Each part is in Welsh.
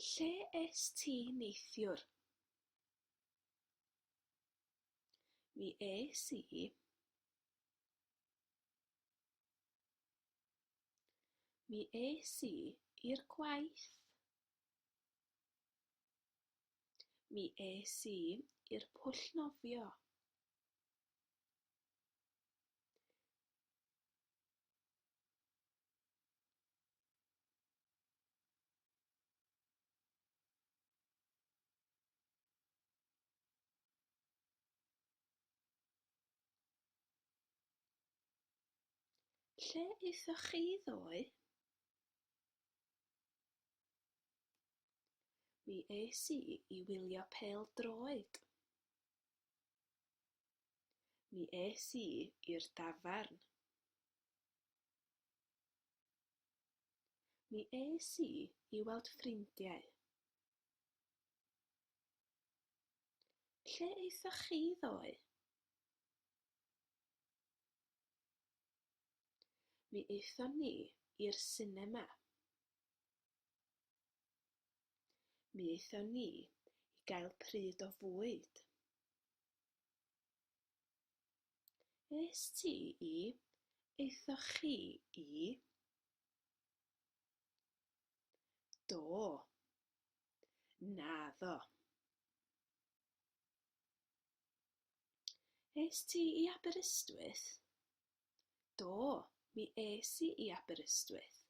Lle es ti neithiwr? Mi es i Mi es i i'r gwaith. Mi es i i'r pwll nofio. Lle eithoch chi ddoe? Mi es i i wylio pel droed. Mi es i i'r dafarn. Mi es i i weld ffrindiau. Lle eithoch chi ddoe? Mi aethon ni i'r sinema. Mi aethon ni i gael pryd o fwyd. Aeth ti i? Aethoch chi i? Do. Naddo. Aeth ti i Aberystwyth? Do, mi es i i Aberystwyth.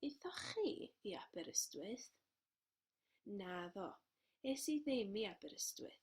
Aethoch chi i Aberystwyth? Naddo, es i ddim i Aberystwyth.